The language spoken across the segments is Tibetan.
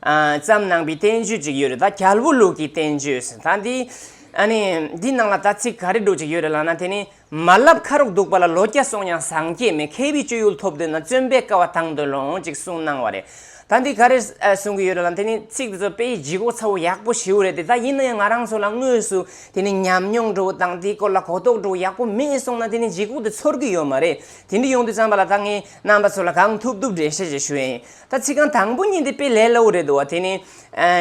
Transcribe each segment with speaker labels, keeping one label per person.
Speaker 1: ཙམ་ནང་པའི་བསྟན་བཅོས་ཅིག་ཡོད་རེད་ད་རྒྱལ་པོ་ལུགས་ཀྱི་བསྟན་བཅོས་ཟེར་ད་འདི། ཨ་ནི། འདི་ནང་ལ་ད་ཚིག་ག་རེ་འགྲོ་ཅིག་ཡོད་རེད་ལགས་ན་དེ་ནི། མ་བསླབ་ཁ་རོག་འདུག་པ་ལ་ལོ་བརྒྱ་སོང་ཡང་བཟང་སྐྱེས་མེད་མཁས་པའི་སྤྱོད་ཡུལ་ཐོབ་འདོད་ན་བརྩོན་པས་དཀའ་བ་དང་དོད་ལོངས་ཅིག་གསུངས་གནང་བ་རེད་ད་འདི་ག་རེ་གསུང་གི་ཡོད་རེད་ལ་དེ་ནི་ཚིག་དེ་ཚོ་དཔེ་ཡི་ལྗིད་ཁོག་ཚ་བོ་ཡག་པོ་ཞེ་བོ་རེད་དེ་ད་ཡིན་ན་ཡང་ང་རང་ཚོ་ལ་དངོས་སུ་དེ་ནི་ཉམས་མྱོང་འགྲོ་བོ་དང་དེའི་སྐོར་ལ་གོ་རྟོགས་འགྲོ་བོ་ཡག་པོ་མེད་གསུངས་ན་དེ་ནི་ལྗིད་ཁོག་དེ་ཚོར་གི་ཡོད་མ་རེད་དེ་འདི་ཡོང་དུས་ཙམ་པ་ལ་ད་ངས་རྣམ་པ་ཚོ་ལ་གང་ཐུབ་ཐུབ་འགྲེལ་བཤད་ཅིག་ཞུ་ཡིན། ད་ཚིག་རྐང་དང་པོ་གཉིས་འདི་དཔེ་ལས་སླ་བོ་རེད་འདུག་བ་དེ་ནི།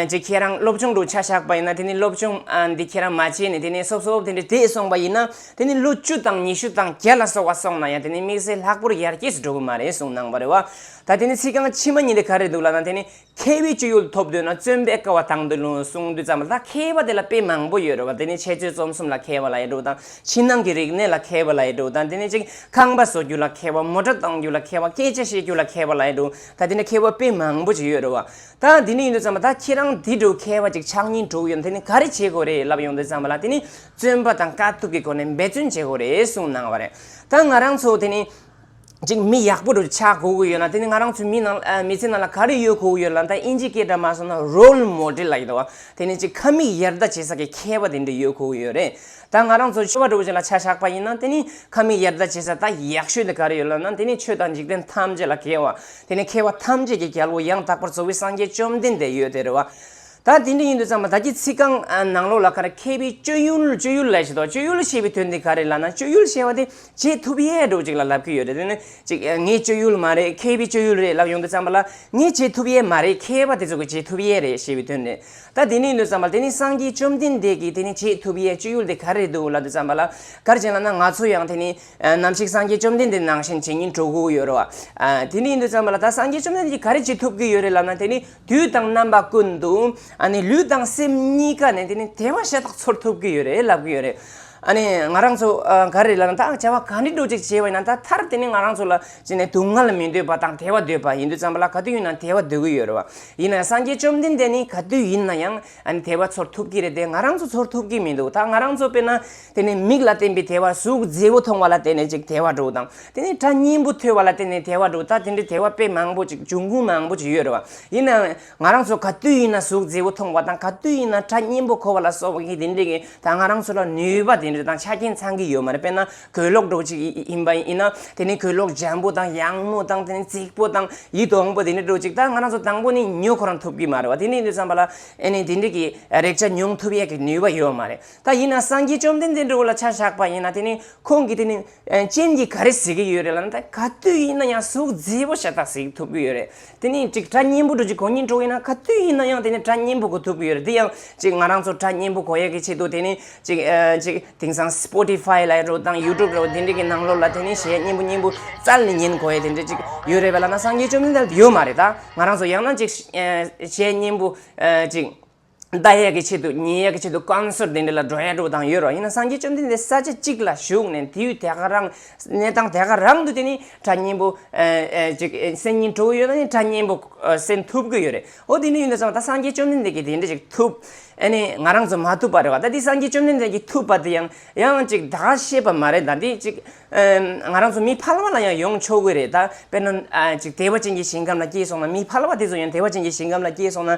Speaker 1: ཅེས་ཁྱེད་རང་སློབ་སྦྱོང་དུ་ཆ་བཞག་པ་ཡིན་ན་དེ་ནི་སློབ་སྦྱོང་འདི་ཁྱེད་རང་མ་བྱས་ནས་དེ་ནི་སོབ་སོབ་དེ་འདྲའི་དེད་སོང་པ་ཡིན་ན་དེ་ནི་ལོ་བཅུ་དང་ཉི་ཤུ་དང་བརྒྱ་ལ་སོགས་བ་སོང་ན་ཡང་དེ་ནི་དམིགས་བསལ་ལྷག་པོར་ཡར་རྒྱས་སུ་འགྲོ་གི་མ་རེད་གསུངས་གནང་བ་རེད་བ། ད་དེ་ནི་ཚིག་རྐང་ཕྱི་མ་གཉིས་འདི་ག་རེད་འདུག་ལབ་ན་དེ་ནི་མཁས་པའི་སྤྱོད་ཡུལ་ཐོབ་འདོད་ན་བརྩོན་པའི་དཀའ་བ་དང་འདོད་ལུང་གསུང་འདོད་ཙམ་ལ་ད་མཁས་པ་དེ་ལ་དཔེ་མང་པོ་ཡོད་རེད་བ་དེ་ནི་འཆད་རྩོད་རྩོམ་གསུམ་ལ་མཁས་པ་ལ་ཡ་འགྲུག་དང། ཕྱི་ནང་གི་རིག་གནས་ལ་མཁས་པ་ལའེ་འགྲོ་དང་དེ་ནས་ཅིག་ཁང་པ་བཟོ་རྒྱུ་ལ་མཁས་པ་མོ་ཏྲ་གཏོང་རྒྱུ་ལ་མཁས་པ་སྐད་ཆ་བཤད་རྒྱུ་ལ་མཁས་པ་ལའེ་འགྲོ་ད་དེ་ནས་མཁས་པ་དཔེ་མང་པོ་ཅིག་ཡོད་རེད་བ། ད་དེ་ནས་ཡིན་དུས་ཙམ་པ་ད་ཁྱེད་རང་དེ་དྲུག་མཁས་པ་ཅིག་ཕྱག་གཉིས་དྲུག་ཡོད་དེ་ནས་ག་རེ་བྱེད་དགོས་རེད་ལབ་ཡོང་དུས་ཙམ་པ་ལ་དེ་ནས་བརྩོན་པ་དང་དཀའ་ཐུབ་ཀྱི་སྒོ་ནས་འབད་བརྩོན་བྱེད་དགོས་རེད་གསུངས་གནང་བ་རེད་ད་ང་རང་ཚོ་དེ་ནས་ཅིག་མི་ཡག་པོ་རུ་ཆགས་དགོས་ཀྱི་ཡོད་ན་དེ་ནི་ང་རང་ཚོའི་མི་ནང་མི་ཚེ་ནང་ལ་ག་རེ་ཡོད་དགོས་ཀྱི་ཡོད་ལ་ད་དབྱིན་ཇིའི་སྐད་སྒྲ་མ་སོང་ན Role Model ལ་ཡིན་ནོ་དེ་ནི་ཅིག་ཁ་མིག་ཡར་ལྟ་བྱེད་ས་ཀྱི་ཁྱད་པ་དེ་འདྲ་ཡོད་དགོས་ཀྱི་ཡོད་རེད་ད་ང་རང་ཚོ་ཆོས་པ་གྲུབ་པོ་ཅིག་ལ་ཆ་བཞག་པ་ཡིན་ན་དེ་ནི་ཁ་མིག་ཡར་ལྟ་བྱེད་ས་ད་ཡག་ཤོས་དེ་ག་རེ་ཡོད་ལབ་ན་དེ་ནི་ཆོས་དང་འཇིག་རྟེན་ཐམས་ཅད་ལ་མཁས་བ་དེ་ནི་མཁས་བ་ཐམས་ཅད་ཀྱི་རྒྱལ་པོ་ཡང་དག་པར་གཙོ་བོའི་སངས་རྒྱས་བཅོམ་ལྡན་འདས་ཡོད་དེ་རེད་བ། ད་དེ་འདྲ་ཡིན་དུས་ཚང་མ་ད་ཀྱི་ཚིག་རྐང་ནང་ལོགས་ལ་ཁ་ར་ཁས་པའི་སྤྱོད་ཡུལ་སྤྱོད་ཡུལ་ལས་བྱེད་དོ་སྤྱོད་ཡུལ་ཞེས་པའི་དོན་དེ་ག་རེད་ལབ་ན་སྤྱོད་ཡུལ་ཞེས་བ་དེ་བྱེད་ཐུབ་ཡས་སྒྲོག་ཅིག་ལ་ལབ་ཀྱི་ཡོད་རེད་དེ་ནི་ཅིག་ངས་སྤྱོད་ཡུལ་མ་རེད་ཁས་པའི་སྤྱོད་ཡུལ་རེད་ལབ་ཡོང་དུས་ཚང་མ་ལ་ངས་བྱེད་ཐུབ་ཡས་མ་རེད་ཁས་པ་དེ་ཚོ་གི་བྱེད་ཐུབ་ཡས་རེད་ཞེས་པའི་དོན་རེད་ད་དེ་འདྲ་ཡིན་དུས་ཚང་མ་དེ་ནི་སངས་རྒྱས་བཅོམ་ལྡན་འདས་ཀྱིས་དེ་ནི་བྱེད་ཐུབ་ཡས་སྤྱོད་ཡུལ་དེ་ག་རེད་འདུག་ལབ་དུས་ཚང་མ་ལ་གར་བྱེད་ལབ་ན་ང་ཚོ་ཡང་དེ་ནི་ནམ་ཞིག་སངས་རྒྱས་བཅོམ་ལྡན་འདས་ནང་བཞིན་བྱེད་ཉིན་གྲོགས་གུ་ཡོད་རོ་ཨ་དེ་འདྲ་ཡིན་དུས་ཚང་མ་ལ་ད་སངས་རྒྱས་བཅོམ་ལྡན་འདས་ཀྱིས་ག་རེ་བྱེད་ཐུབ་ཀྱི་ཡོད་རེད་ལབ་ན་དེ་ནི་དུས་དང་རྣམ་པ་ཀུན་ཏུ་ལུས་དང་སེམས་གཉིས་ཀ་ནས་དེ་ནི་དེ་བ་ཤ་སྟག་ཚོར་ཐུབ་ཀྱི་ཡོད་རེད་ལབ་ཀྱི་ཡོད་རེད། ང་རང་ཚོ་ག་རེ་ལ་ད་བྱ་བ་ག་འདྲི་འགྲོ་ཅིག་བྱས་པ་ཡིན་ན་ད་མཐར་དེ་ནི་ང་རང་ཚོ་ལ་སྡུག་བསྔལ་མི་འདོད་པ་དང་དེ་བ་འདོད་པ་ཡིན་དུས་ཙམ་པ་ལ་ག་དུས་ཡིན་ན་དེ་བ་འདོད་ཀྱི་ཡོད་རེད་བ། ཡིན་ན་ཡང་སངས་རྒྱས་བཅོམ་ལྡན་འདས་ནི་ག་དུས་ཡིན་ན་ཡང་ཨ་ནི་དལ་བ་ཚོར་ཐུབ་ཀྱི་རེད་དེ་ང་རང་ཚོ་ཚོར་ཐུབ་ཀྱི་མི་འདུག་ད་ང་རང་ཚོ་དཔེར་ན་དེ་ནི་མིག་ལ་བརྟེན་པའི་དལ་བ་གཟུགས་མཛེས་པོ་མཐོང་བ་ལ་བརྟེན་ནས་ཅིག་དལ་བ་འགྲོ་དང་དེ་ནི་སྒྲ་སྙན་པོ་ཐོས་བ་ལ་བརྟེན་ནས་དལ་བ་འགྲོ་ད་དེ་འདྲའི་དལ་བ་དཔེ་མང་པོ་ཅིག་འབྱུང་ཁུངས་མང་པོ་ཅིག་ཡོད་རེད་བ་ཡིན་ནའང་ང་རང་ཚོ་ག་དུས་ཡིན་ན་གཟུགས་མཛེས་པོ་མཐོང་བ་དང་ག་དུས་ཡིན་ན་སྒྲ་སྙན་པོ་གོ་བ་ལ་སོགས་པ་གིས་དེ་འདྲས་ཀྱིས་ད་ང་རང་ཚོ་ལ་ནུས་པ་དེ་འདྲ་དང་ཆ་རྐྱེན་ཚང་གི་ཡོད་མ་རེད་དཔེར་ན་གོས་ལོག་སྒྲོག་ཅིག་ཡིན་པ་ཡིན་ན་དེ་ནི་གོས་ལོག་འཇམ་པོ་དང་ཡང་མོ་དང་དེ་ནི་རྩིག་པོ་དང་ཡིད་དུ་འོང་པོ་དེ་ནི་སྒྲོག་ཅིག་ད་ང་རང་ཚོ་དང་པོ་ནས་ཉོ་ཁོ་རང་ཐུབ་ཀྱི་མ་རེད་བ་དེ་ནས་ནི་བསམ་པ་ལ་ཨེ་ནས་དེ་འདྲིས་ཀྱི་རེག་བྱ་མྱོང་ཐུབ་ཡས་ཀྱི་ནུས་པ་ཡོད་མ་རེད་ད་ཡིན་ན་སངས་རྒྱས་བཅོམ་ལྡན་འདས་འགྲོ་བ་ལ་ཆ་བཞག་པ་ཡིན་ན་དེ་ནི་ཁོང་གིས་དེ་ནི་སྤྱན་གྱིས་ག་རེ་གཟིགས་ཀྱི་ཡོད་རེད་ལ་ན་ད་ག་དུས་ཡིན་ན་ཡང་གཟུགས་མཛེས་པོ་ཞེ་དྲག་གཟིགས་ཐུབ་ཀྱི་ཡོད་རེད་དེ་ནི་གཅིག་དྲ་གཉན་པོ་འགྲོ་རྒྱུ་གང་ཉིན་འགྲོ་ཡིན་ན་ག་དུས་ཡིན་ན་ཡང་དེ་ནི་དྲ་གཉན་པོ་གོ་ཐུབ་ཀྱི་ཡོད་རེད་དེ་ཡང་གཅིག་ང་རང་ཚོ་དྲ་གཉན་པོ་གོ་ཡག་གི་ཆེད་དུ་དེ་ནི་གཅིག་གཅིག་དེང་སང Spotify ལ་རོ་དང YouTube ལ་དེ་འདྲི་གི་ནང་ལོགས་ལ་དེ་ནི་གཞས་གཉན་པོ་གཉན་པོ་ཙལ་ནི་ཉན་གོ་ཡས་དེ་འདྲི་གཅིག་ཡོད་རེད་པ་ལ་ན་སངས་རྒྱས་བཅོམ་ལྡན་འདས་ལ་དེ་ཡོད་མ་རེད་ད་ང་རང་ཚོ་ཡང་ན་གཅིག་གཞས་གཉན་པོ་གཅིག་ཟླ་ཡས་ཀྱི་ཆེད་དུ་ཉིན་ཡས་ཀྱི་ཆེད་དུ་བསྐང་གསོལ་དེ་འདྲ་ལ་འགྲོ་ཡ་འགྲོ་དང་ཡོད་རོགས་ཡིན་ན་སངས་རྒྱས་བཅོམ་ལྡན་འདས་ས་ཆ་གཅིག་ལ་བཞུགས་ནས་དེའུ་དེ་ག་རང་གནས་སྟངས་དེ་ག་རང་དུ་དེ་ནི་གྲྭ་གཉན་པོ་སེམས་ཉིད་སྤྲོ་བོ་ཡོད་ན་ནི་གྲྭ་གཉན་པོ་སེམས་ཐུབ་ཀྱི་ཡོད་རེད་ཨོ་དེ་འདྲ་ཡིན་ད་ཚང་ད་སངས་རྒྱས་བཅོམ་ལྡན་འདས་ཀྱིས་དེ་འདྲ་ཅིག་ཐུབ་ཨ་ནི་ང་རང་ཚོ་མ་ཐུབ་པ་རེད་བ་ད་དེ་སངས་རྒྱས་བཅོམ་ལྡན་འདས་ཀྱིས་ཐུབ་པ་དེ་ཡང་ཡང་ཅིག་ད་ག་ཤེས་པ་མ་རེད་ད་དེ་ཅིག་ང་རང་ཚོ་མི་ཕལ་བ་ལ་ཡང་ཡོང་ཆོག་གི་རེད་ད་དཔེར་ན་ཅིག་དེ་བ་ཅན་གྱི་ཞིང་ཁམས་ལ་སྐྱེས་སོང་ན་མི་ཕལ་བ་དེ་ཚོ་ཡང་དེ་བ་ཅན་གྱི་ཞིང་ཁམས་ལ་སྐྱེས་སོང་ན་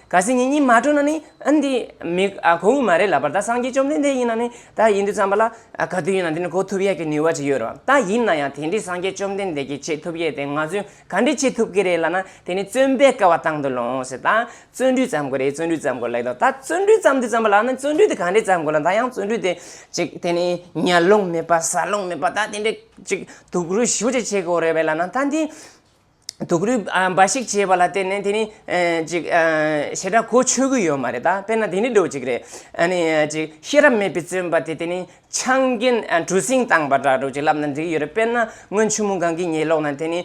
Speaker 1: གལ་སྲིད་ངེད་གཉིས་མ་གྲོས་ན་ནི་ཨ་འདི་མི་གོ་འོས་མ་རེད་ལབ་པར་ད་སངས་རྒྱས་བཅོམ་ལྡན་འདས་ཡིན་ན་ནི་ད་ཡིན་དུས་བརྩམས་པ་ལ་ག་དུས་ཡིན་ན་དེ་ནི་གོ་ཐུབ་ཡག་གི་ནུས་བ་ཅིག་ཡོད་རེད་བ་ད་ཡིན་ན་ཡང་དེ་འདྲས་སངས་རྒྱས་བཅོམ་ལྡན་འདས་ཀྱིས་བྱེད་ཐུབ་ཡས་དེ་ང་ཚོས་ག་འདྲས་བྱེད་ཐུབ་ཀི་རེད་ལབ་ན་དེ་ནི་བརྩོན་པས་སྐལ་བ་དང་དུ་ལོངས་ཟེར་ད་བརྩོན་འགྲུས་བརྩམས་དགོས་རེད་བརྩོན་འགྲུས་བརྩམས་དགོས་ལེགས་དོ་ད་བརྩོན་འགྲུས་བརྩམས་དུས་བརྩམས་པ་ལ་ན་བརྩོན་འགྲུས་དེ་ག་འདྲས་བརྩམས་དགོས་ལ་ད་ཡང་བརྩོན་འགྲུས་དེ་ཅིག་དེ་ནི་ཉལ་རླུང་མེད་པ་ཟ་རླུང་མེད་པ་ད་དེ་འདྲས་ཅིག་དུག་རུས་ཞུ་བྱེད་བྱེད་དགོས་རེད་བས་ལབ་ན་ད་འདི། དུག་རུས་འབའ་ཞིག་བྱས་པ་ལ་བརྟེན་ནས་དེ་ནི་ཅིག་ཞེ་དྲག་གོ་ཆོད་ཀྱི་ཡོད་མ་རེད་ད་དཔེར་ན་དེ་ནི་འགྲོ་ཅིག་རེད། ཨ་ནི་ཅིག་ཤེས་རབ་མེད་པའི་བརྩོན་པ་དེ་དེ་ནི་ཆང་རྒྱུན་གྲུ་གཟིངས་བཏང་པ་འདྲ་འགྲོ་ཅིག་ལབ་ན་འགྲིག་གི་ཡོད་རེད་དཔེར་ན་སྔོན་ཆུ་མོ་སྒང་གི་ཉེ་ལོགས་ན་དེ་ནི་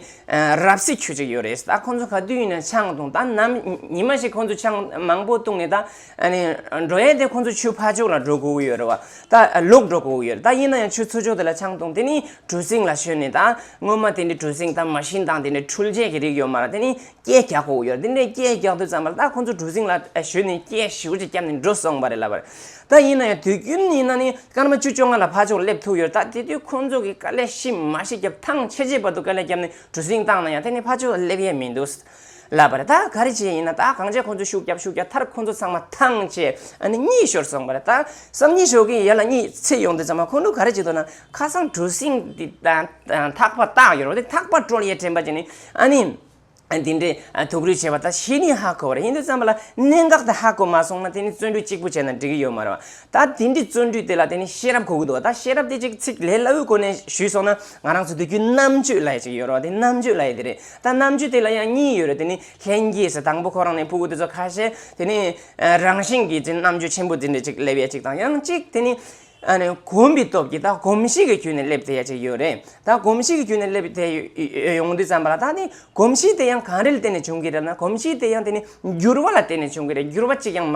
Speaker 1: རབ་སྲེག་ཁྱུ་ཅིག་ཡོད་རེད་ད་ཁོང་ཚོ་ག་དུས་ཡིན་ན་ཆང་བཏུང་ད་ནམ་ཉི་མ་ཞིག་ཁོང་ཚོ་ཆང་མང་པོ་བཏུང་ནས་ད། ཨ་ནི། འགྲོ་ཡས་དེ་ཁོང་ཚོ་ཆུ་ཕར་ཕྱོགས་ལ་འགྲོ་དགོས་ཀྱི་ཡོད་རེད་བ། ད་ལོག་འགྲོ་དགོས་ཀྱི་ཡོད་རེད་ད་ཡིན་ན་ཡང་ཆུ་ཚོད་ཕྱོགས་དེ་ལ་ཆང་བཏུང་དེ་ནི་གྲུ་གཟིངས་ལ་ཞོན་ནས་ད། སྔོན་མ་དེ་འདྲའི་གྲུ་གཟིངས་དང་མ་ཤིན་དང་དེ་འདྲའི་འཕྲུལ་ཆས་ཀྱི་རིགས་ཡོད་མ་རེད་དེ་ནི་སྐྱས་རྒྱག་དགོས་ཀྱི་ཡོད་རེད་དེ་འདྲའི་སྐྱས་རྒྱག་དུས་ཙམ་པར་ད་ཁོང་ཚོ་གྲུ་གཟིངས་ལ་ཞོན་ནས་སྐྱས་ཞིབ་ཅིག་བརྒྱབ་ནས་འགྲོ་སོང་བ་རེད་ལབ་བར། ད་ཡིན་ན་ཡང་དུས་རྒྱུན་ཡིན་ན་ནི་སྐར་མ་བཅུ་བཅོ་ལྔ་ལ་ཕར་ཕྱོགས་སླེབས་ཐུབ་ཀྱི་ཡོད་རེད་ད་དེ་དུས་ཁོང་ཚོ་གིས་དཀའ་ལས་ཤི་མ་ཤི་བརྒྱབ་ཐང་ཆེ་ཆེ་བར་དུ་དཀའ་ལས་བརྒྱབ་ནས་གྲུ་གཟིངས་བཏང་ན་ཡང་དེ་ནི་ཕར་ཕྱོགས་སླེབས་ཡས་མི་འདུག། ལབ་པར་ད་ག་རེ་བྱེད་ཡིན་ན་ད་གང་བྱེད་ཁོང་ཚོ་ཤུགས་རྒྱབ་ཤུགས་རྒྱབ་མཐར་ཁོང་ཚོ་ཚང་མ་ཐང་ཆད་ཨ་ནི་གཉིད་ཤོར་སོང་བར་ད་སང་ཉིན་ཞོགས་ཀྱི་ཡར་ལ་གཉིད་ཚེ་ཡོང་དུས་ཚང་མ་ཁོང་ཚོ་ག་རེ་བྱེད་འདུག་ན་ཁ་སང་གྲུ་གཟིངས་དེ་ཐག་པ་བཏགས་ཡོད་རོགས་དེ་ཐག་པ་དཀྲོལ་ཡས་དྲན་པ་བྱས་ནས་ཨ་ནི་དེ་འདྲའི་དུག་རུས་བྱས་པ་ད་ཤི་ནི་ཧ་གོ་བ་རེད་ཡིན་དུས་ཙམ་པ་ལ་གནད་འགག་དེ་ཧ་གོ་མ་སོང་ན་དེ་ནི་བརྩོན་འགྲུས་གཅིག་པུ་བྱས་ན་འགྲིག་གི་ཡོད་མ་རེད་བ་ད་དེ་འདྲའི་བརྩོན་འགྲུས་དེ་ལ་དེ་ནི་ཤེས་རབ་གོ་གི་འདུག་བ་ད་ཤེས་རབ་དེ་ཅིག་ཚིག་ལས་སླ་བོའི་སྒོ་ནས་ཞུས་སོང་ན་ང་རང་ཚོ་སྡོད་རྒྱུའི་རྣམ་དཔྱོད་ལ་ཡས་ཅིག་ཡོད་རོགས་དེ་རྣམ་དཔྱོད་ལ་ཡས་དེ་རེད། ད་རྣམ་དཔྱོད་དེ་ལ་ཡང་གཉིས་ཡོད་རེད་དེ་ནི་ལྷན་སྐྱེས་སུ་དང་པོ་ཁོ་རང་ནས་ཕུ་གུ་དེ་ཚོ་ཁ་ཤས་དེ་ནི། རང་བཞིན་གྱིས་དེ་རྣམ་དཔྱོད་ཆེན་པོ་དེ་འདྲ་ཅིག་སླེབས་ཡ་ཅིག་དང་ཡང་གཅིག་དེ་ནི། གོམས་པའི་སྟོབས་ཀྱིས་ད་གོམས་གཤིས་ཀྱི་དཀྱུས་ནས་སླེབས་བསྡད་ཡ་ཅིག་ཡོད་རེད་ད་གོམས་གཤིས་ཀྱི་དཀྱུས་ནས་སླེབས་དེ་ཡོང་དུས་བསམ་པ་ལ་ད་དེ་གོམས་གཤིས་དེ་ཡང་གང་རེ་ལ་བརྟེན་ནས་བྱུང་གི་རེད་ན་གོམས་གཤིས་དེ་ཡང་དེ་ནི་འགྱུར་བ་ལ་བརྟེན་ནས་བྱུང་གི་རེད་འགྱུར་བ་གཅིག་ཀྱང་མ་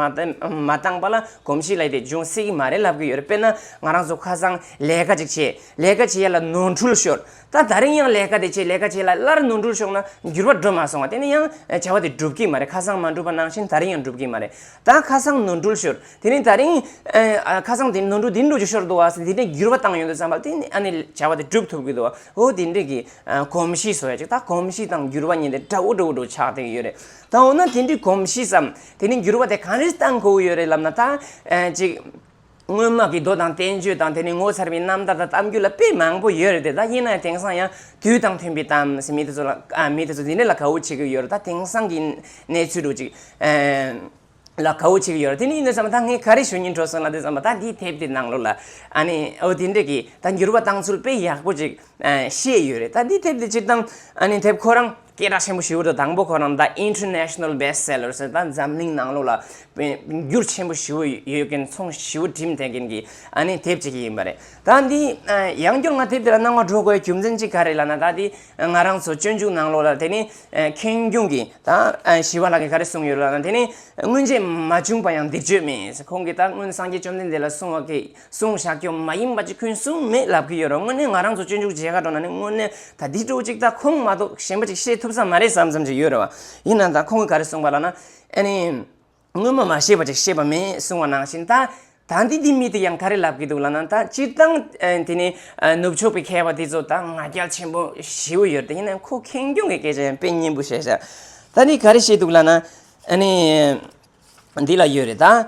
Speaker 1: བཏང་པ་ལ་གོམས་གཤིས་ལས་དེ་འབྱུང་སྲིད་ཀྱི་མ་རེད་ལབ་ཀྱི་ཡོད་རེད་དཔེར་ན་ང་རང་ཚོ་ཁ་སང་ལས་ཀ་ཅིག་བྱས་ལས་ཀ་བྱས་ཡ་ལ་ནོར་འཁྲུལ་ཤོར། ད་ད་རིང་ཡང་ལས་ཀ་དེ་བྱེད་ལས་ཀ་བྱེད་ལ་སླར་ནོར་འཁྲུལ་ཤོར་ན་འགྱུར་བ་འགྲོ་མ་སོང་བ་དེ་ནི་ཡང་བྱ་བ་དེ་འགྲུབ་ཀྱི་མ་རེད་ཁ་སང་མ་འགྲུབ་པ་ནང་བཞིན་ད་རིང་ཡང་འགྲུབ་ཀྱི་མ་རེད་ད་ཁ་སང་ནོར་འཁྲུལ་ཤོར་དེ་ནི་ད་རིང་ཁ་སང་དེ་ནོར་འཁྲུལ་དེ་འགྲོ་རྒྱུ་ཤོར་འདུག་བ་དེ་འདྲའི་འགྱུར་བ་བཏང་ཡོད་འདུག་བསམ་པ་དེ་ནི་ཨ་ནི་བྱ་བ་དེ་འགྲུབ་ཐུབ་ཀྱི་འདུག་བ་ཧོ་དེ་འདྲའི་གི་གོམས་གཤིས་བཟོ་ཡ་ཅིག་ད་གོམས་གཤིས་དང་འགྱུར་བ་གཉིས་དེ་འདྲ་བོ་འདྲ་བོ་འདྲ་བོ་ཆགས་བསྡད་ཀྱི་ཡོད་རེད་ད་འོ་ན་དེ་འདྲའི་གོམས་གཤིས་སམ་དེ་ནི་འགྱུར་བ་དེ་གང་རེད་བཏང་དགོས་ཀྱི་ཡོད་རེད་ལབ་ན་ད་ཅིག། དངོས་དམག་གི་རྡོ་དང་བསྟན་བཅོས་དང་དེ་ནས་ངོ་མཚར་བའི་རྣམ་ཐར་དང་གཏམ་རྒྱུད་ལ་དཔེ་མང་པོ་ཡོད་རེད་དེ་ད་ཡིན་ནའི་དེང་སང་ཡང་དུས་དང་མཐུན་པའི་གཏམ་ཟེར་མི་དེ་ཚོ་ལ་མི་དེ་ཚོ་འདི་འདྲ་ལ་གའུ་བྱེད་ཀྱི་ཡོད་རེད་ད་དེང་སང་གི་གནས་ཚུལ་རུ་ཅིག་ལ་གའུ་བྱེད་ཀྱི་ཡོད་རེད་དེ་ནས་ཡིན་ནའི་བསམ་པ་ད་ངས་ག་རེ་ཞུ་ཉིན་གྲོ་སོང་ལ་དེ་བསམ་པ་ད་འདི་དེབ་དེ་ནང་ལོགས་ལ་ཨ་ནི་འོ་དེ་འདྲ་གི་ད་འགྱུར་བ་བཏང་ཚུལ་དཔེ་ཡག་པོ་ཅིག་ཤེས་ཡོད་རེད་ད་འདི་དེབ་དེ་སྤྱིར་བཏང་ཨ་ནི་དེབ་ཁོ་རང། སྐད་གྲགས་ཆེན་པོ་ཞུ་བར་དུ་དང་པོ་ཁོ་རང་ད International Best Sellers ད་འཛམ་གླིང་ནང་ལོགས་ལ་འགྱུར་ཆེན་པོ་ཞུ་བ་ཡོད་མཁན་ཚོང་ཞུ་བ་འགྲིམ་ཐེངས་མཁན་གྱི་ཨ་ནི་དེབ་ཅིག་ཡིན་པ་རེད། ད་འདི་ཡང་བསྐྱར་ང་དེབ་དེ་ལ་སྣང་བ་འགྲོ་དགོས་རྒྱུ་མཚན་གཅིག་ག་རེད་ལ་ན་ད་འདི་ང་རང་ཚོ་སྤྱོད་འཇུག་ནང་ལོགས་ལ་དེ་ནི་ཁེངས་སྐྱུང་གི་ད་ཞི་བ་ལགས་ཀྱིས་ག་རེ་གསུངས་ཡོད་ལ་ན་དེ་ནི་སྔོན་ཆད་མ་བྱུང་པ་ཡང་འདེགས་བརྗོད་མེད་ཁོང་གིས་ད་སྔོན་སངས་རྒྱས་བཅོམ་ལྡན་འདས་ལ་གསུངས་བ་ཀྱི་གསུང་བཤགས་སྐྱོན་མ་ཡིན་པ་ཅིག་ཁུན་སུམ་མེད་ལབ་གི་ཡོད་རོགས་དངོས་གནས་ང་རང་ཚོ་སྤྱོད་འཇུག་བྱེད་ག་འགྲོ་ན་ནི་དངོས་གནས་ད་འདི་སྤྲོ་ཅིག་ད་ཁོང་མ་གཏོགས་གཞན་པ་ཅིག་ཤེས་ཐུབ་ས་མ་རེད་བསམ་བསམ་ཅིག་ཡོད་རེད་བ། ཡིན་ནའང་ད་ཁོང་གིས་ག་རེ་གསུངས་པ་ལགས་ན། ཨ་ནི། སྔོན་མ་མ་ཤེས་པ་ཅིག་ཤེས་པ་མེད་གསུང་བ་ནང་བཞིན་ད། ད་འདི་འདི་མི་དེ་ཡང་ག་རེ་ལབ་གི་འདུག་ལགས་ན་ད་སྤྱིར་བཏང་དེ་ནི། ནུབ་ཕྱོགས་པའི་མཁས་པ་དེ་ཚོ་ད་ང་རྒྱལ་ཆེན་པོ་ཞེ་བོ་ཡོད་རེད་ད་ཡིན་ནའང་ཁོ་ཁེངས་སྐྱུང་གི་སྐད་ཆ་ཡང་དཔེ་སྙན་པོ་བཤད་ཤག་ད་འདི་ག་རེ་བཤད་འདུག་ལགས་ན། ཨ་ནི། འདི་ལ་ཡོད་རེད་ད།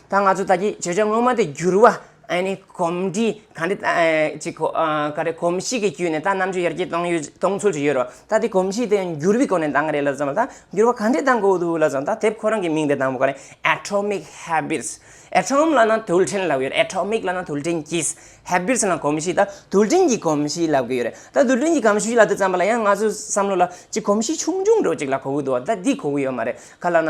Speaker 1: ད་ང་ཚོ་དག་གིས་བརྗོད་བྱ་ངོ་མ་དེ་འགྱུར་བ་ནི་གོམས་འདྲིས་ག་འདྲི་གཅིག་གོ། ག་རེ་གོམས་གཤིས་ཀྱི་བརྒྱུད་ནས་ད་རྣམ་དཔྱོད་ཡར་རྒྱས་གཏོང་ཡོད་གཏོང་ཚོད་ཀྱི་ཡོད་རོ། ད་དེ་གོམས་གཤིས་དེ་འགྱུར་བའི་སྒོ་ནས་གཏང་གི་རེད་ལབ་ཙང་ད་འགྱུར་བ་ག་འདྲི་གཏང་གི་འདུག་ལབ་ཙང་ད་དེབ་ཁོ་རང་གི་མིང་དེ་གཏང་བ་ག་རེ Atomic Habits Atom ལ་ན་དུལ་ཕྲེང་ལབ་གི་ཡོད་རེད Atomic ལ་ན་དུལ་ཕྲེང་གི Habits ལ་ན་གོམས་གཤིས་ད་དུལ་ཕྲེང་གི་གོམས་གཤིས་ལབ་གི་ཡོད་རེད་ད་དུལ་ཕྲེང་གི་གམས་ཤུས་ལབ་དུས་ཙམ་པ་ལ་ཡང་ང་ཚོས་བསམ་བློ་ལ་གཅིག་གོམས་གཤིས་ཆུང་ཆུང་འགྲོ་གཅིག་ལ་གོ་གི་འདུག་ད་འདི་གོ་གི་ཡོད་མ་རེད་ག་ལ་ན།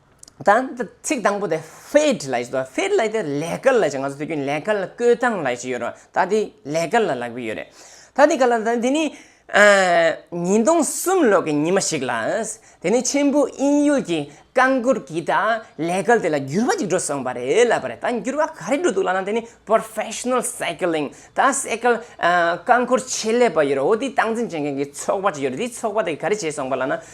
Speaker 1: དང་ད་ཚིག་དང་པོ་དེ Fed ལ་ཡོད་རེད། Fed ལ་ཡོད་རེད་ལས་ཀར་ལ་ཡོད་རེད། ང་ཚོ་དུས་རྒྱུན་ལས་ཀར་ལ་བསྐོས་སྟངས་ལ་ཡོད་རེད། ད་དེ་ལས་ཀར་ལ་ལག་པས་ཡོད་རེད། ད་དེ་ག་ལ་ད་དེ་ནི། ཉིས་སྟོང་གསུམ་ལོ་གི་ཉི་མ་ཞིག་ལ། དེ་ནི་ཆེན་པོ་དབྱིན་ཡུལ་གྱི་རྐང་འཁོར་གྱིས་ད་ལས་ཀར་དེ་ལ་འགྱུར་བ་ཅིག་འགྲོ་སོང་བ་རེད་ལབ་པ་རེད། ད་འགྱུར་བ་ག་རེ་འགྲོ་འདུག་ལབ་ན་དེ་ནི Professional Cycling ད Cycle རྐང་འཁོར་ཆེད་ལས་པ་ཡོད་རེད་འོ་དེ་སྟངས་འཛིན་བྱེད་མཁན་གྱི་ཚོགས་པ་ཅིག་ཡོད་རེད་དེ་ཚོགས་པ་དེ་ག་རེ་བྱས་སོང་བ་ལབ་ན།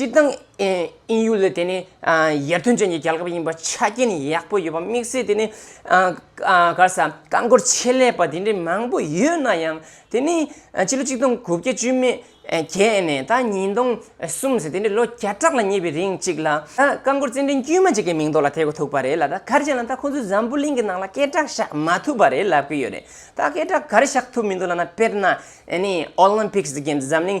Speaker 1: སྤྱིར་བཏང་ཨིན་ཡུལ་ལ་དེ་ནི་ཡར་ཐོན་ཅན་གྱི་རྒྱལ་ཁབ་ཡིན་པར་ཆ་རྐྱེན་ཡག་པོ་ཡོད་པ་དམིགས་བསལ་དེ་ནི་ག་ས་རྐང་འཁོར་ཆེད་ལས་པ་དེ་འདྲའི་མང་པོ་ཡོད་ན་ཡང་དེ་ནི་ཕྱི་ལོ་ཆིག་སྟོང་དགུ་བརྒྱ་བཅུ་མེད་བརྒྱད་ནས་ད་ཉིས་སྟོང་གསུམ་ཟེར་དེ་འདྲའི་ལོ་བརྒྱ་ཕྲག་ལ་ཉེ་བའི་རིང་ཅིག་ལ་རྐང་འཁོར་རྩེད་འགྲན་དཀྱུས་མ་གཅིག་གི་མིང་ཐོག་ལ་ཐེག་ཐུབ་པ་རེད་ལ་ད་གར་ཅན་ལ་ད་ཁོ་ཚོས་འཛམ་བུ་གླིང་གི་ནང་ལ་སྐད་གྲགས་བཞག་མ་ཐུབ་པ་རེད་ལབ་ཀྱི་ཡོད་རེད་ད་སྐད་གྲགས་གར་བཞག་ཐུབ་མི་འདུག་ལ་ན་དཔེར་ན་ཨོ་ལིམ་ཕིཀ་གི་འཛམ་གླིང་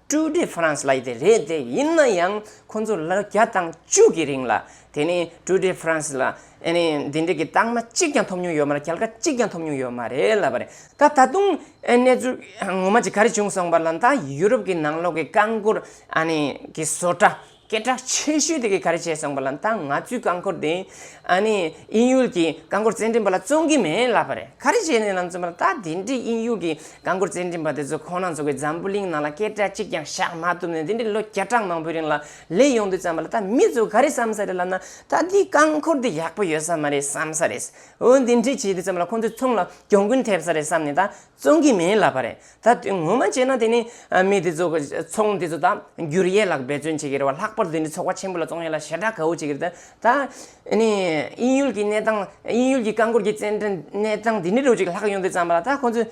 Speaker 1: ཀྲུའུ་ཏི་ཧྥ་རན་སི་ལ་ཡི་དེ་རེད་དེ་ཡིན་ན་ཡང་ཁོང་ཚོ་ལོ་བརྒྱ་དང་བཅུ་གི་རིང་ལ་དེ་ནི་ཀྲུའུ་ཏི་ཧྥ་རན་སི་ལ་ཨ་ནི་འདི་འདྲི་གི་རྟགས་མ་གཅིག་ཀྱང་ཐོབ་མྱོང་ཡོད་མ་རེད་གལ་ཀ་གཅིག་ཀྱང་ཐོབ་མྱོང་ཡོད་མ་རེད་ལབ་པ་རེད་ད་ད་དུང་གནས་ཚུལ་ངོ་མ་ཅིག་ག་རེ་བྱུང་སོང་པ་ལ་ད་ཡུ་རོབ་ཀྱི་ནང་ལོག་གི་རྐང་འཁོར་ཨ་ནི་གི་བཟོ་གྲྭ་སྐད་གྲགས་ཆེ་ཤོས་དེ་གས་ག་རེ་བྱས་སོང་པ་ལ་ད་ང་ཚོའི་རྐང་འཁོར་དེ་ཨ་ནི་དབྱིན་ཡུལ་གྱི་རྐང་འཁོར་རྩེད་འགྲན་པ་ལ་བཙོང་གི་མེད་ལབ་པ་རེད་ག་རེ་བྱས་ནས་ལམ་བཙོང་པ་ལ་ད་དེ་འདྲའི་དབྱིན་ཡུལ་གྱི་རྐང་འཁོར་རྩེད་འགྲན་པ་དེ་ཚོ་ཁོ་ན་ཚོ་གའི་འཛམ་བུ་གླིང་ནང་ལ་སྐད་གྲགས་གཅིག་ཀྱང་བཞག་མ་ཐུབ་ནས་དེ་འདྲའི་ལོ་བརྒྱ་ཕྲག་མང་པོའི་རིང་ལ་ལས་ཡོང་དུས་བརྩམས་པ་ལ་ད་མི་ཚོ་ག་རེ་བསམ་ས་རེད་ལབ་ན་ད་དེའི་རྐང་འཁོར་དེ་ཡག་པོ་ཡོད་ས་མ་རེད་བསམ་ས་རེད་འོན་དེ་འདྲས་བྱས་དུས་བརྩམས་པ་ལ་ཁོ་ཚོའི་ཚོང་ལ་གྱོང་གུན་ཐེབས་ས་རེད་བསམས་ནས་ད་བཙོང་གི་མེད་ལབ་པ་རེད་ད་དེ་ངོ་མ་བྱས་ན་དེ་ནི་མི་དེ་ཚོ་ཚོང་འདི་ཚོ་ད་འགྱུར་ཡས་ལགས་འབད་བརྩོན་བྱེད་ཀྱི་རེད་བ་ལྷག་པར་དུ་འདི་ཚོགས་པ་ཆེན་པོ་ལ་ཙོང་ཡས་ལ་ཞེ་དྲག་ག་བོ་བྱེད་ཀྱི་རེད་ད་ད་ནི་དབྱིན་ཡུལ་གྱི་གནས་སྟངས་དབྱིན་ཡུལ་གྱི་རྐང་འཁོར་གྱི་བཙན་འབྲེལ་གནས་སྟངས་འདི་ནི་རོ་གཅིག་ལྷག་ཡོང་དུས་བརྩམས་པ་ལ་ད་ཁོང་ཚོས་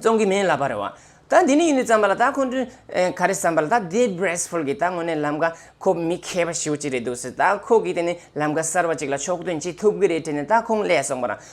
Speaker 1: ཙོང་གི་མིན་ལབ་པ་རེད་བ་ད་འདི་ནི་ཡིན་དུས་བརྩམས་པ་ལ་ད་ཁོང་ཚོས་ག་རེ་བསམ་པ་ལ་ད་དེ་བསྒྲེས་ཕུལ་གྱི་ད་ངོ་ནས་ལམ་ཀ་ཁོ་མི་མཁས་པ་ཞིག་བོ་ཅིག་རེད་འདུག་སེ་ད་ཁོ་གིས་དེ་ནི་ལམ་ཀ་གསར་བ་ཅིག་ལ་ཕྱོགས་སྟོན་བྱེད་ཐུབ་གི་རེད་དྲན་ནས་ད་ཁོང་ལས་སོང་པ་རང་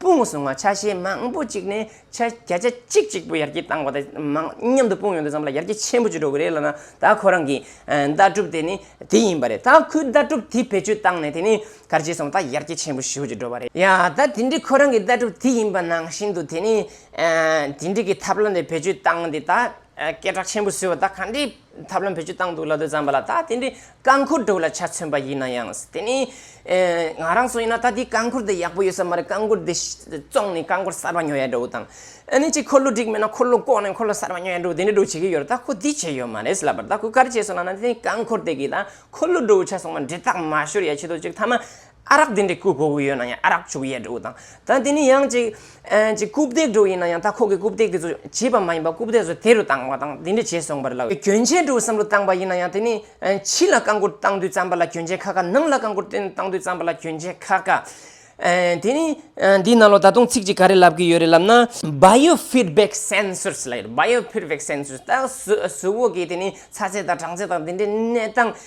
Speaker 1: དཔུང་བཟུང་བ་ཆ་ཤས་མང་པོ་གཅིག་ནས་ཆ་བརྒྱ་ཆ་གཅིག་གཅིག་པོ་ཡར་རྒྱས་བཏང་བ་དང་མང་མཉམ་དུ་དཔུང་ཡོང་དུ་བརྩམས་ལ་ཡར་རྒྱས་ཆེན་པོ་བྱེད་འགྲོ་གི་རེད་ལབ་ན་ད་ཁོ་རང་གི་ལྟ་གྲུབ་དེ་ནི་དེ་ཡིན་པ་རེད་ད་ཁོའི་ལྟ་གྲུབ་དེ་བེད་སྤྱོད་བཏང་ནས་དེ་ནི་གར་བྱས་སོང་ད་ཡར་རྒྱས་ཆེན་པོ་ཞུ་བྱེད་འགྲོ་བ་རེད། ཡ་ད་དེ་འདྲའི་ཁོ་རང་གི་ལྟ་གྲུབ་དེ་ཡིན་པ་ནང་བཞིན་དུ་དེ་ནི་དེ་འདྲའི་གི་ཐབས་ལམ་དེ་བེད་སྤྱོད་བཏང་ནས་ད་སྐད་གྲགས་ཆེན་པོ་བཟོས་བ་ད་ག་འདྲའི་ཐབས་ལམ་བེད་སྤྱོད་བཏང་འདུག་ལ་དོན་བརྩམས་པ་ལ་ད་དེ་འདྲའི་རྐང་འཁུར་སྒྲུབ་ལ་ཆ་མཚོན་པ་ཡིན་ན་ཡང། དེ་ནི། ང་རང་སུ་ཡིན་ན་ད་དེའི་རྐང་འཁུར་དེ་ཡག་པོ་ཡོད་ས་མ་རེད་རྐང་འཁུར་དེ་བཙོངས་ནས་རྐང་འཁོར་གསར་པ་ཉོ་ཡ་འགྲོ་དང། ཨ་ནི་ཅིག་འཁོར་ལོ་འགྲིག་མེད་ན་འཁོར་ལོ་བཀོག་ནས་འཁོར་ལོ་གསར་པ་ཉོ་ཡ་འགྲོ་དེ་འདྲ་འགྲོ་བྱེད་ཀྱི་ཡོད་རེད་ད་ཁོ་དེ་བྱས་ཡོད་མ་རེད་ལབ་པར་ད་ཁོས་ག་རེ་བྱས་སོང་ལ་ན་དེ་རྐང་འཁོར་དེ་གིས་ད་འཁོར་ལོ་འགྲོ་བའི་ཆ་སོང་བ་འདྲེ་སྟག་མ་ཤོར་ཡ་བྱེད་དོ་ཅིག་ཐ་མ་ཨ་རག་དེ་འདྲའི་སྐུ་ཕོ་བོ་ཡོད་ན་ཡང་ཨ་རག་ཕྱུགས་ཡས་སྒྲོག་དང། ད་དེ་ནི་ཡང་ཅིག་ཅིག་རྐུབ་སྟེགས་སྒྲོག་ཡིན་ན་ཡང་ད་ཁོག་གི་རྐུབ་སྟེགས་དེ་ཚོ་བྱིས་པ་མ་ཡིན་པར་རྐུབ་སྟེགས་སུ་དེ་རུ་བཏང་བ་དང་དེ་འདྲས་བྱས་སོང་བར་ལ། གྱོན་ཆས་སྒྲོག་བསམ་བློ་བཏང་བ་ཡིན་ན་ཡང་དེ་ནི་ཕྱི་ལ་རྐང་འཁོར་བཏང་དུས་རྩམ་པ་ལ་གྱོན་ཆས་ཁ་ཁ་ནང་ལ་རྐང་འཁོར་བཏང་དུས་རྩམ་པ་ལ་གྱོན་ཆས་ཁ་ཁ། དེ་ནི། འདིའི་ནང་ལོ་ད་དུང་ཚིག་ཅིག་ག་རེ་ལབ་གི་ཡོད་རེད་ལབ་ན། Bio Feedback Sensors ལ་ཡོད་རེད Bio Feedback Sensors ད་གཟུ་བོ་གིས་དེ་ནི་ཚ་ཚད་དང་གྲང་ཚད་དང་དེ་འདྲའི་གནས་སྟངས་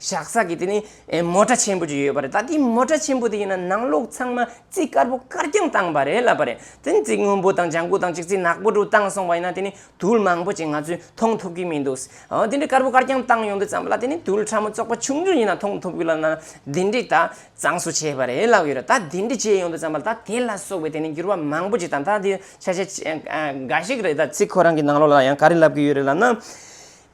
Speaker 1: བཞག་ས་ཀྱི་དེ་ནི་མོ་ཏྲ་ཆེན་པོ་ཅིག་ཡོད་པ་རེད་ད་དེའི་མོ་ཏྲ་ཆེན་པོ་དེ་ཡིན་ན་ནང་ལོགས་ཚང་མ་རྩིག་དཀར་པོ་དཀར་རྐྱང་བཏང་བ་རེད་ལབ་པ་རེད་དེ་ནི་རྩིག་སྔོན་པོ་དང་ལྗང་ཁུ་དང་ཅིག་རྩིག་ནག་པོ་དྲུག་བཏང་སོང་བ་ཡིན་ན་དེ་ནི་དུལ་མང་པོ་ཅིག་ང་ཚོས་མཐོང་ཐུབ་ཀྱི་མི་འདུག་ཨོ་དེ་འདྲའི་དཀར་པོ་དཀར་རྐྱང་བཏང་ཡོང་དུས་ཙམ་ལ་དེ་ནི་དུལ་ཕྲ་མོ་བཙོག་པ་ཆུང་ཆུང་ཡིན་ན་མཐོང་ཐུབ་ཀྱི་ལབ་ན་དེ་འདྲའི་ད་གཙང་སུ་བྱས་པ་རེད་ལབ་ཀྱི་རེད་ད་དེ་འདྲའི་བྱས་ཡོང་དུས་ཙམ་ལ་ད་དེ་ལ་སོགས་པའི་དེ་ནི་འགྱུར་བ་མང་པོ་ཅིག་དང་ད་དེ་ཆ་ཤས་འགའ་ཞིག་རེད་ད་རྩིག་ཁོ་རང་གི་ནང་ལོགས་ལ་ཡང་ག་རེ་ལབ་ཀྱི་ཡོད་རེད་ལབ་ན།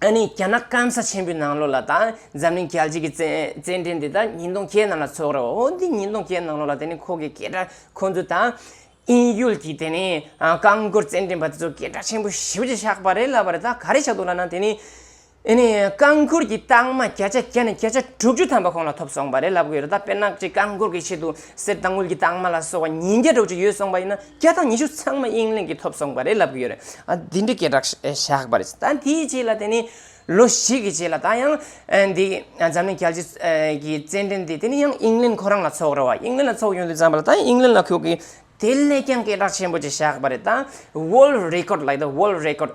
Speaker 1: ཨ་ནི་རྒྱ་ནག་སྐམ་ས་ཆེན་པོའི་ནང་ལོགས་ལ་དང་འཛམ་གླིང་རྒྱལ་སྤྱི་གི་རྩེད་འགྲན་འདི་དང་ཉིན་སྟོང་བརྒྱད་ནང་ལ་ཚོགས་རེད་བ་འོ་འདི་ཉིན་སྟོང་བརྒྱད་ནང་ལོགས་ལ་དེ་ནི་ཁོ་གི་སྐད་སྒྲ་ཁོ་ཚོ་དང། དབྱིན་ཡུལ་གྱི་དེ་ནི་རྐང་མགོར་རྩེད་འགྲན་པ་དེ་ཚོ་སྐད་སྒྲ་ཆེན་པོ་ཞིབ་ཅིག་བཞག་པ་རེད་ལབ་པ་རེད་ད་ག་རེ་བཞག་འདུག་ལབ་ན་དེ་ནི། ཨ་ནི་རྐང་མགོར་གྱི་རྟགས་མ་བརྒྱ་ཆ་བརྒྱ་ནས་བརྒྱ་ཆ་དྲུག་ཅུ་ཐམ་པ་ཁོང་ལ་ཐོབ་སོང་པ་རེད་ལབ་གི་ཡོད་རེད་ད་དཔེར་ན་གཅིག་རྐང་མགོར་གྱི་ཆེད་དུ་གསེར་དང་དངུལ་གྱི་རྟགས་མ་ལ་སོགས་པ་ཉིས་བརྒྱ་དྲུག་ཅུ་ཡོད་སོང་པ་ཡིན་ན། བརྒྱ་དང་ཉི་ཤུ་ཚང་མ་དབྱིན་ལེན་གྱིས་ཐོབ་སོང་བ་རེད་ལབ་གི་ཡོད་རེད། འདི་འདྲའི་སྐད་གྲགས་བཞག་པ་རེད། ད་འདིའི་རྗེས་ལ་དེ་ནི་ལོ་ཞིག་གི་རྗེས་ལ་ད་ཡང་འདི་འཛམ་གླིང་རྒྱལ་སྤྱིའི་གི་རྩེད་འགྲན་འདི་དེ་ནི་ཡང་དབྱིན་ལེན་ཁོ་རང་ལ་ཚོགས་རེད་བ། དབྱིན་ལེན་ལ་ཚོགས་ཡོང་དུས་བརྩམས་པ་ལ་ད་ཡང་དབྱིན་ལེན་ལ་ཁྱོད་ཀྱིས་དེ་ལས་ཀྱང་སྐད་གྲགས་ཆེན་པོ་ཅིག་བཞག་པ་རེད། ད World Record ལ་ཡོད་དོ World Record།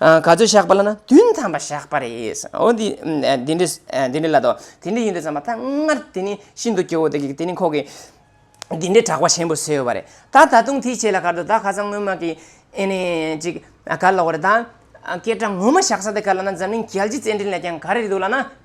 Speaker 1: ག་ཚོད་བཞག་པ་ལ་ན་བདུན་ཐམ་པ་བཞག་པ་རེད། འོ་འདི་འདི་འདྲས་འདི་འདྲས་ལ་དོ། དེ་འདྲས་ཡིན་འདྲས་བསམ་པ་ད་སྔར་དེ་ནི་ཤིན་ཏུ་སྐྱོ་བོ་དེ་གིས་དེ་ནི་ཁོ་གིས་འདི་འདྲས་གྲགས་པ་ཆེན་པོ་ཟོས་བ་རེད། ད་ད་དུང་དེའི་ཆེད་ལ་གར་དུ་ད་ཁ་སང་སྔོན་མ་གི་ཨེ་ནས་ཅིག་གར་ལོག་བ་རེད། ད་སྐད་གྲགས་ངོ་མ་བཞག་ས་དེ་གར་ལ་ན་འཛམ་གླིང་རྒྱལ་སྤྱི་རྩེད་འགྲན་ལས་ཀྱང་ག་རེ་རེད་འདུག་ལ་ན།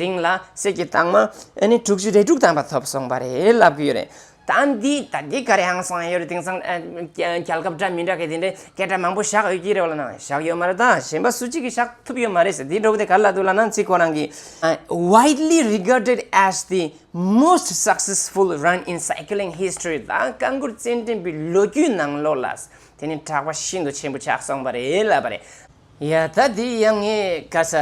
Speaker 1: རིང་ལ་གསེར་གྱི་དྭངས་མ་དྲུག་ཅུ་རེ་དྲུག་དམ་པ་ཐོབ་སོང་བ་རེད་ལབ་གི་ཡོད་རེད། ད་འདི་ད་འདི་ག་རེ་ཧང་སང་ཡོད་རེད་དེང་སང་རྒྱལ་ཁབ་འདྲ་མི་འདྲ་གི་དེ་འདྲའི་སྐད་སྒྲ་མང་པོ་བཞག་ཡོད་ཀྱི་རེད་བ་ལ་ན་བཞག་ཡོད་མ་རེད་ད་གཞན་པ་སུ་གཅིག་གི་བཞག་ཐུབ་ཡོད་མ་རེད་ཟེར་དེ་འདྲ་བོ་དེ་ག་ལ་འདུག་ལ་ན་ཚིག་ཁོ་རང་གི། Widely regarded as the most successful run in cycling history ད་བཀའ་འགྱུར་རྩེད་འགྲན་པའི་ལོ་རྒྱུས་ནང་ལོགས་ལ་དེ་ནི་གྲགས་པ་ཤིན་ཏུ་ཆེན་པོ་ཆགས་སོང་བ་རེད་ལབ་པ་རེད། ཡ་ད་དེའི་ཡ་ངའི་ཀ་ས་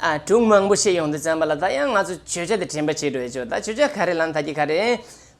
Speaker 1: ཨ་དྲུག་མང་པོ་ཤེས་ཡོང་དུ་བརྩམས་པ་ལ་ད་ཡ་ང་ཚོ་བརྗོད་བྱ་དེ་དྲན་པ་བྱེད་འགྲོ་ཡ་ཆོག་ད་བརྗོད་བྱ་ག་རེ་ལ་མཐའ་སྐྱེལ་ག་རེ་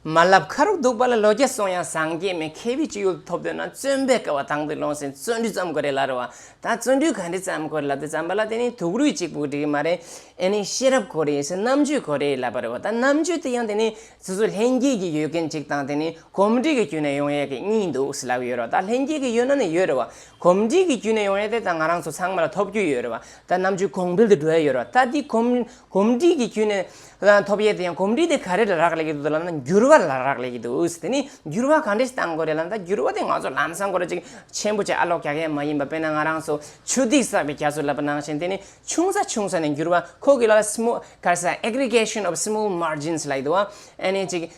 Speaker 1: མ་ལབ་ཁ་རུག་འདུག་པ་ལ་ལོ་བརྒྱ་སོང་ཡང་བཟང་སྐྱེས་མེད་མཁས་པའི་སྤྱོད་ཡུལ་དུ་ཐོབ་འདོད་ན་བརྩོན་པའི་སྐལ་བ་དྭངས་པོས་སློང་ཟིན་བརྩོན་འགྲུས་བརྩམས་དགོས་རེད་ལར་བ་ད་བརྩོན་འགྲུས་ག་འདྲས་བརྩམས་དགོས་ལབ་དེ་བརྩམས་པ་ལ་དེ་ནི་དུག་རུས་གཅིག་པུ་འགྲིག་གི་མ་རེད་ཨེ་ནི་ཤེས་རབ་གོ་རེ་ཡིན་ཟེར་རྣམ་དཔྱོད་གོ་རེ་ལབ་པ་རེད་བ་ད་རྣམ་དཔྱོད་དེ་ཡང་དེ་ནི་སོ་སོ་ལྷན་སྐྱེས་ཀྱི་ཡོད་མཁན་གཅིག་དང་དེ་ནི་གོམས་འདྲིས་ཀྱི་བརྒྱུད་ནས་ཡོང་ཡས་ཀྱི་གཉིས་འདུག་ཟེར་ལབ་ཡོད་རེད་བ་ད་ལྷན་སྐྱེས་ཀྱི་ཡོད་ན་ནི་ཡོད་རེད་བ། གོམས་འདྲིས་ཀྱི་བརྒྱུད་ནས་ཡོང་རེད་དེ་ད་ང་རང་ཚོ་ཚང་མ་ལ་ཐོབ་རྒྱུ་ཡོད་རེད་བ་ད་རྣམ་དཔྱོད་གོང་འཕེལ་དུ་འགྲོ་ཡས་ཡོད་རེད་བ་ད་དེ་གོམས་འདྲིས་ཀྱི་བརྒྱུད་ནས་ཐོབ་ཡས་དེ་ཡང་གོམས་འདྲིས་དེ་ག་རེ་ལ་རག་ལས་ཀྱི་འདུག་ད་ལབ་ན་འགྱུར་བ་ལ་རག་ལས་ཀྱི་འདུག་དེ་ནས་འགྱུར་བ་ག་འདྲས་ཞིག་གཏང་དགོས་རེད་ལབ་ན་ད་འགྱུར་བ་དེ་ང་ཚོ་ལམ་སང་སྒོ་ར་གཅིག་ཆེན་པོ་བཅས་ཨ་ལོག་རྒྱག་ཡས་མ་ཡིན་པ་དཔེར་ན་ང་རང་ཚོ་ཆུ་ཐིགས་བསགས་པའི་རྒྱ་མཚོ་ལབ་པ་ནང་བཞིན་དེ་ནས་ཆུང་ས་ཆུང་ས་ནས་འགྱུར་བ་ཁོ་གི་ལ་ལ small ག་རེ་ས aggregation of small margins ལ་ཡི་འདུག་བ་ཨ་ནས་ཅིག་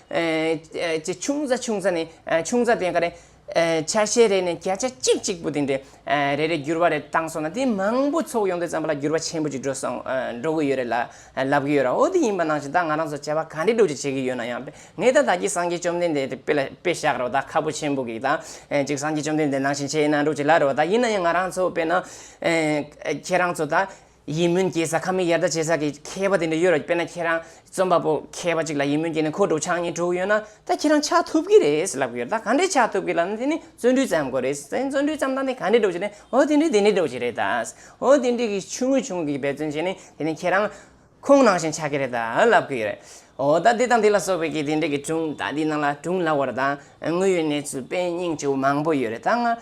Speaker 1: ཅིག་ཆུང་ས་ཆུང་ས་ནས་ཆུང་ས་དེ་ཡང་ག་རེ། ཆ་ཤས་རེ་ནས་བརྒྱ་ཆ་གཅིག་གཅིག་པུ་དེ་འདྲའི་རེ་རེ་འགྱུར་བ་རེ་བཏང་སོང་ན་དེ་མང་པོ་ཚོགས་ཡོང་དུས་ཙམ་ལ་འགྱུར་བ་ཆེན་པོ་ཅིག་འགྲོ་སོང་འགྲོ་གི་ཡོད་རེད་ལ་ལབ་ཀྱི་ཡོད་ར་འོ་དེ་ཡིན་པ་ནང་བཞིན་ད་ང་རང་ཚོ་བྱ་བ་ག་འདྲའི་སྒྲུབ་བྱེད་བྱེད་ཀྱི་ཡོད་ན་ཡང་ངས་ད་ད་ཀྱི་སངས་རྒྱས་བཅོམ་ལྡན་འདས་དེ་དཔེ་ལ་དཔེ་བཞག་རོགས་ད་ཁ་ཕོ་ཆེན་པོ་གིས་ད་ཅིག་སངས་རྒྱས་བཅོམ་ལྡན་འདས་ནང་བཞིན་བྱས་ན་འགྲུབ་བྱེད་ལ་རོགས་ད་ཡིན་ན་ཡང་ང་རང་ཚོ་དཔེ་ན་ཁྱེད་རང་ཚོ་ད་ཡིད་སྨོན་སྐྱེས་ས་ཁ་མི་ཡར་ལྟ་བྱེད་ས་གི་མཁས་པ་དེ་འདྲ་ཡོད་ར་དཔེར་ན་ཁྱེད་རང་རྩོམ་པ་པོ་མཁས་པ་ཅིག་ལ་ཡིད་སྨོན་སྐྱེས་ནས་ཁོ་སྒྲུབ་ཆགས་གཉིས་དྲུག་ཡོད་ན་ད་ཁྱེད་རང་ཆགས་ཐུབ་གི་རེད་ལབ་གི་ཡོད་ད་ག་འདྲས་ཆགས་ཐུབ་གི་ལབ་ན་དེ་ནི་བརྩོན་འགྲུས་བརྩམས་དགོས་རེད་བརྩོན་འགྲུས་བརྩམས་སྟངས་དེ་ག་འདྲས་སྒྲུབ་བྱེད་རེད་འོ་དེ་འདྲས་དེ་འདྲས་སྒྲུབ་བྱེད་རེད་ད་འོ་དེ་འདྲས་ཀྱི་ཆུང་ངུ་ཆུང་ངུ་གྱི་འབད་བརྩོན་བྱས་ནས་དེ་ནི་ཁྱེད་རང་ཁོང་ནང་བཞིན་ཆགས་གི་རེད་ད་ལབ་གི་ཡོད་རེད་འོ་ད་དེ་དང་དེ་ལ་སོགས་པའི་གི་དེ་འདྲས་ཀྱི་སྒྲུང་ད་དེ་ནང་ལ་སྒྲུང་ལ་བར་ད་དངོས་ཡོད་གནས་ཚུལ་དཔེ་རྙིང་ཆུང་ངུ་མང་པོ་ཡོད་རེད་ད་ང་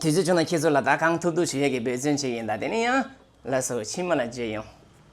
Speaker 1: དུས་ཚོད་བྱུང་ན་ཁྱེད་ཚོ་ལ་ད་གང་ཐུབ་ཐུབ་བྱེད་ཡ་གི་འབོད་བརྩོན་བྱེད་ཀྱིན་གདའ་དེ་ནས་ཡང་ལ་སོ་ཕྱི་མ་ལ་བརྗོད་ཡོང།